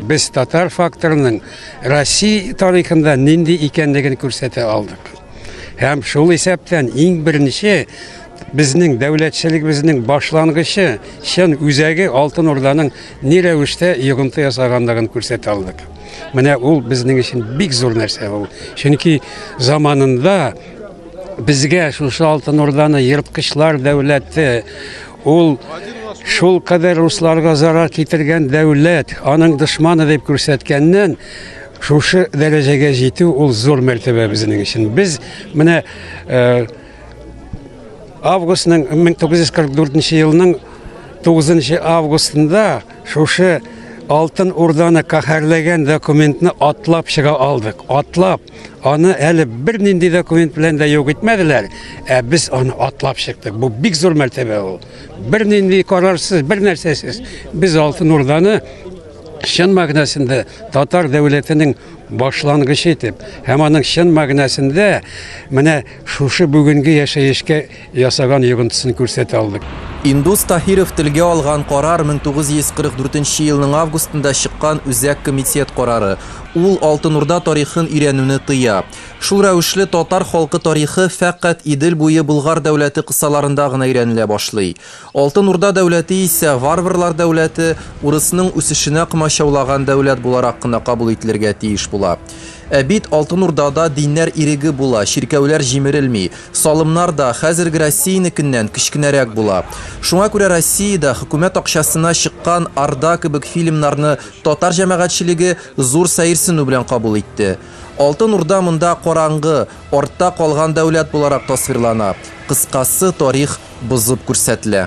Без татар факторының Россия тарихында нинди икәнлеген күрсәтә алдык. Һәм шул исәптән иң беренче безнең дәүләтчелегебезнең башлангычы, чын үзәге Алтын Урданың ни рәвештә йогынты ясаганлыгын күрсәтә алдык. Менә ул безнең өчен бик зур нәрсә ул. Чөнки заманында безгә шушы Алтын Урданы ерткычлар дәүләте Ул шул кадәр русларга зарар китергән дәүләт, аның дошманы дип күрсәткәннән, шушы дәрәҗәгә җитү ул зур мәртәбә безнең өчен. Без менә э, августның 1944 елның 9 августында шушы Алтын Урданы каһәрләгән документны атлап чыга алдык. Атлап Аны әле бер нинди документ белән дә юк итмәделәр, ә без аны атлап чыктык. Бу бик зур мәртәбә ул. Бер нинди карарсыз, бер нәрсәсез без Алтын Урданы чын мәгънәсендә татар дәүләтенең башлангычы итеп һәм аның чын мәгънәсендә менә шушы бүгенге яшәешкә ясаган йогынтысын күрсәтә алдык. Индус Таһиров телгә алган карар 1944 нче елның августында чыккан Үзәк комитет карары. Ул Алтын Урда тарихын өйрәнүне тыя. Шул рәвешле татар халкы тарихы фәкать Идел буе Болгар дәүләте кысаларында гына өйрәнелә башлый. Алтын Урда дәүләте исә варварлар дәүләте, урысның үсешенә комачаулаган дәүләт буларак кына кабул ителергә тиеш була. Ә бит Алтын Урдада диннәр иреге була, чиркәүләр җимерелми. Салымнар да хәзерге Россиянекеннән кечкенәрәк була. Шуңа күрә Россиядә хөкүмәт акчасына чыккан Орда кебек фильмнарны татар җәмәгатьчелеге зур сәерсенү белән кабул итте. Алтын Урда монда караңгы, артта калган дәүләт буларак тасвирлана, кыскасы, тарих бозып күрсәтелә.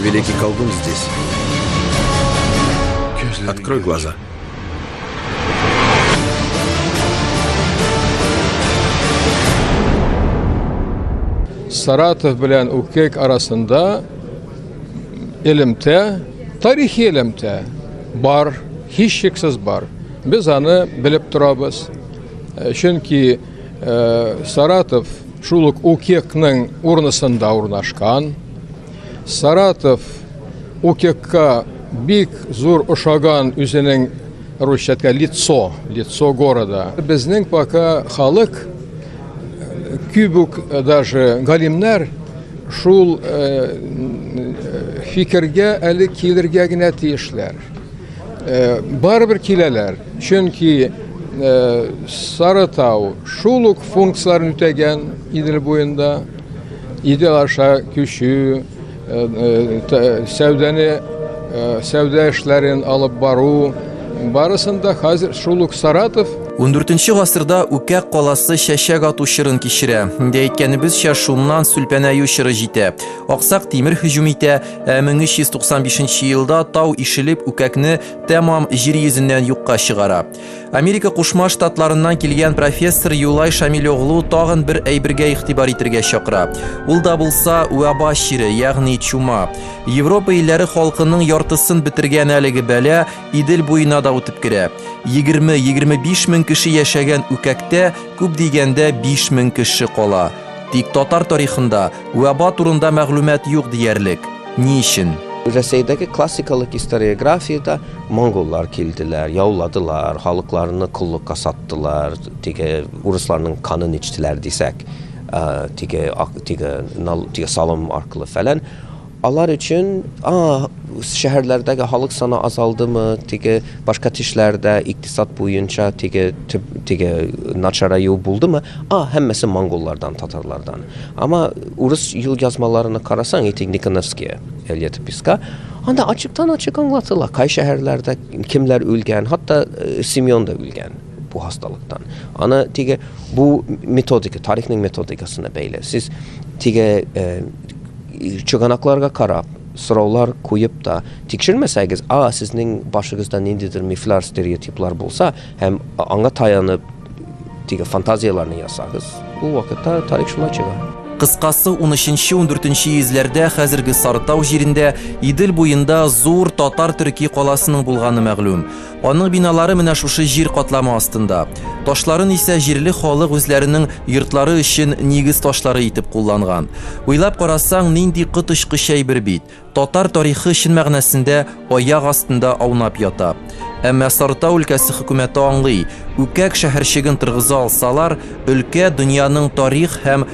Великий колдун здесь. Открой глаза. Саратов белән Укек арасында элемтә, тарихи элемтә бар, һичшиксез бар. Без аны белеп торабыз. Чөнки Саратов шул ук УКЕКның урнысында урнашкан. Саратов УКЕКка бик зур ошаган үзенең русчатка лицо, лицо города. Безнең пока халык э, кюбук э, даже галимнәр шул э, фикергә әле килергә генә тиешләр. Э, барыбер киләләр чөнки э, сарытау шул ук функцияләрен үтәгән идел буенда идел аша күчү э, сәүдәне сәүдә эшләрен алып бару барысында хәзер шул ук саратов 14 гасырда үкә каласы чәчәк ату чырын кичерә. Инде әйткәнебезчә, шуннан сүлпәнәю чыры җитә. Аксак тимер һөҗүм итә, Ә 1395 елда тау ишелеп үкәкне тәмам җир йөзеннән юкка чыгара. Америка Кушма Штатларыннан килгән профессор Юлай Шамилёглу тагын бер әйбергә игътибар итергә чакыра. Ул да булса уаба чире, ягъни чума. Европа илләре халкының яртысын бетергән әлеге бәлә Идел буена да үтеп керә. 20-25 мең кеше яшәгән үкәктә күп дигәндә 5 мең кеше кала. Тик татар тарихында вәба турында мәгълүмат юк диярлек. Ни өчен? Рәсәйдәге классикалык историографиядә монголлар килделәр, яуладылар, халыкларны коллыкка саттылар, теге урысларның канын эчтеләр дисәк, теге, теге, теге салым аркылы фәлән. Алар өчен, а, шәһәрләрдәге халык саны азалдымы, теге башка тешләрдә икътисад буенча теге төп теге начараю булдымы, а, һәммәсе монголлардан, татарлардан. Ама урыс юлъязмаларына карасаң, эти Никоновские, Эльета Песка, анда ачыктан-ачык аңлатыла, кай шәһәрләрдә кемләр үлгән, хатта Семен да үлгән бу хасталыктан. Аны теге бу методика, тарихның методикасына бәйле. Сез теге чыганакларга карап, сораулар куеп та тикшермәсәгез, а сезнең башыгызда ниндидер мифлар, стереотиплар булса һәм аңа таянып теге фантазияләрне ясагыз, ул вакытта тарих шулай чыга. Кыскасы, 13-14 йөзләрдә хәзерге Сарытау җирендә, Идел буенда зур татар-төрки каласының булганы мәгълүм. Аның биналары менә шушы җир катламы астында. Ташларын исә җирле халык үзләренең йортлары өчен нигез ташлары итеп кулланган. Уйлап карасаң, нинди коточкыч әйбер бит! Татар тарихы чын мәгънәсендә аяк астында аунап ята. Әмма Сарытау өлкәсе хөкүмәте аңлый, Үкәк шәһәрчеген торгыза алсалар, өлкә дөньяның тарих һәм